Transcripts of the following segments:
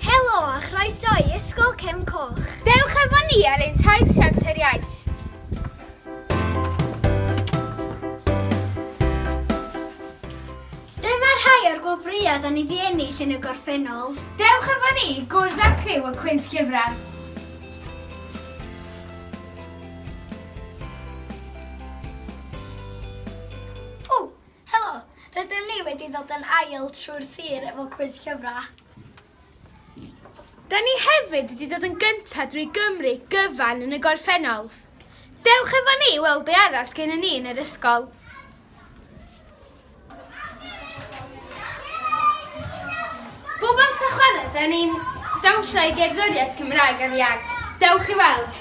Helo a chroeso i Ysgol Cefn Coch. Dewch efo ni ar ein taith Siarter Iaith. Dyma rhai o'r gwobrwyau da ni di ennill yn y gorffennol. Dewch efo ni i gwrdd â'r criw o Cwins Llyfrau. O! Helo! Rydym ni wedi dod yn ail trwy'r sir efo cwis llyfrau. Da ni hefyd wedi dod yn gyntaf drwy Gymru gyfan yn y gorffennol. Dewch efo ni i weld be arall sgennyn ni yn yr ysgol. Bob amser chwarae, da ni'n dawnsio i gerddoriaeth Cymraeg ar iard. Dewch i weld!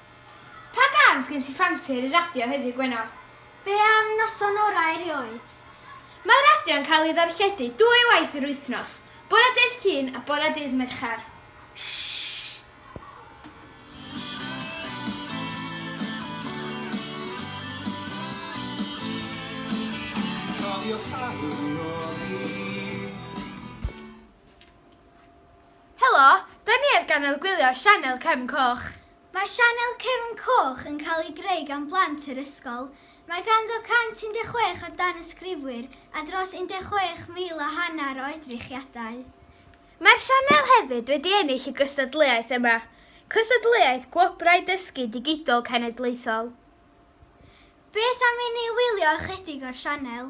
Pa gân sgen ti ffansi ar y radio heddiw Gwener? Be am Noson Orau erioed? Mae radio yn cael ei ddarlledu dwy waith yr wythnos, bore dydd Llun a bore dydd Mercher. Cofio pa ddiwrnod 'ny. Helo, da ni ar ganel gwylio Sianel Cefn Coch. Mae Sianel Cefn Coch yn cael ei greu gan blant yr ysgol. Mae ganddo 116 o danysgrifwyr a dros 16,000 a hanner o edrychiadau. Mae'r sianel hefyd wedi ennill y gystadleuaeth yma, cystadleuaeth Gwobrau Dysgu Digidol Cenedlaethol. Beth am i ni wylio ychydig o'r sianel?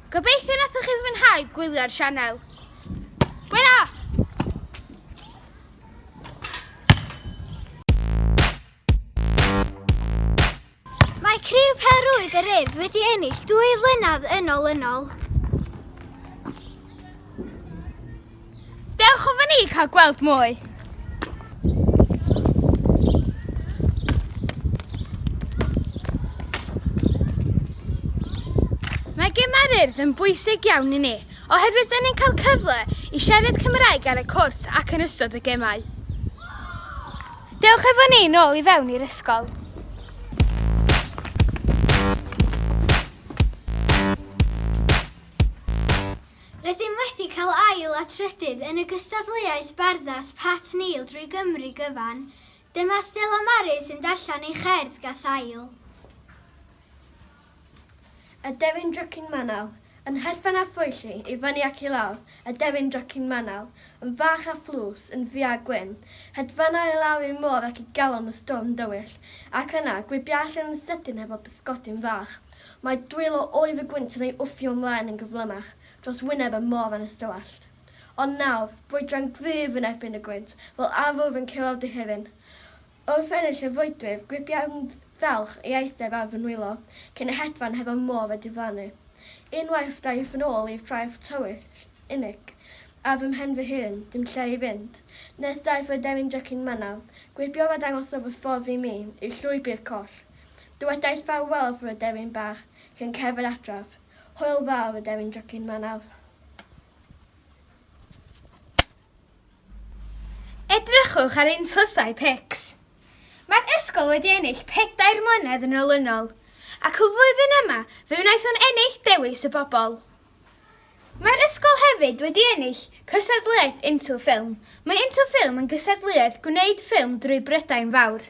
Gobeithio nathoch chi fwynhau gwylio'r sianel. Gwena! Criw Pêl-rwyd yr Urdd wedi ennill dwy flynedd yn olynol. Dewch o fyny i cael gweld mwy. Mae gemau'r urdd yn bwysig iawn i ni, oherwydd dyn ni'n cael cyfle i siarad Cymraeg ar y cwrt ac yn ystod y gemau. Dewch efo ni nôl i fewn i'r ysgol. Rydym wedi cael ail a trydydd yn y gystadleuaeth barddas Pat Neil drwy Gymru gyfan. Dyma Stella Maris yn darllen ei cherdd gathaul. Y Devin Drycin Manaw, Yn hedfan â phwyll i fyny ac i lawr, y Devin Drycin Manaw, yn fach a thlws, yn ddu a gwyn, hedfana i lawr i'r môr ac i galon y storm dywyll, ac yna, gwibia allan yn sydyn hefo pysgodyn fach. Mae dwylo oer y gwynt yn ei wthio ymlaen yn gyflymach dros wyneb y môr yn ystywallt. Ond nawr, brwydran gryf yn erbyn y gwynt, fel arwr yn curo dihiryn. Wrth ennill y frwydwyr, gripiai'r Ddelch i eistedd ar fy nwylo, cyn y hedfan hefo'r môr a diflannu. Unwaith daeth yn ôl i'r traeth tywyll, unig, ar fy mhen fy hun, dim lle i fynd. Nes daeth yr aderyn drycin manaf, gwibio a dangosodd y ffordd i mi, i'r llwybr coll. Dywedais fel whelf yr aderyn bach cyn cerdded adref. Hwyl dda yr aderyn drycin 'ma nawr. Edrychwch ar ein tlysau pics. Mae'r ysgol wedi ennill pedair mlynedd yn olynol, ac y flwyddyn yma fe wnaethon ennill Dewis y Bobl. Mae'r ysgol hefyd wedi ennill cystadleuaeth Into Film, mae Into Film yn gystadleuaeth gwneud ffilm drwy Brydain Fawr.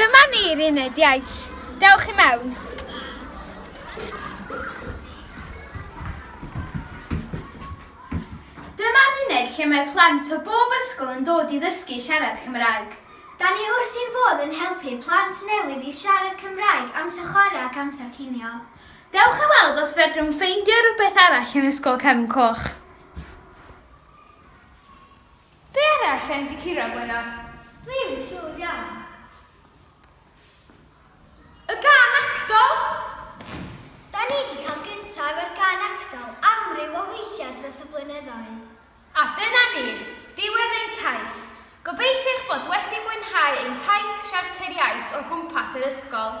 Dyma ni'r uned iaith. Dewch i mewn. Dyma'r uned lle mae plant o bob ysgol yn dod i ddysgu siarad Cymraeg. Da ni wrth ein bodd yn helpu plant newydd i siarad Cymraeg, amser chwarae ac amser cinio. Dewch i weld os fedrwn ffeindio rhywbeth arall yn Ysgol Cefn Coch. Be arall sy'n dy curo Gwenno? Dwi'm yn siŵr iawn. Y gân actol! Da ni 'di cael gynta efo'r gân actol amryw o weithiau dros y blynyddoedd. A dyna ni, diwedd ein taith. Gobeithio eich bod wedi mwynhau ein taith siarteriaeth o gwmpas yr ysgol.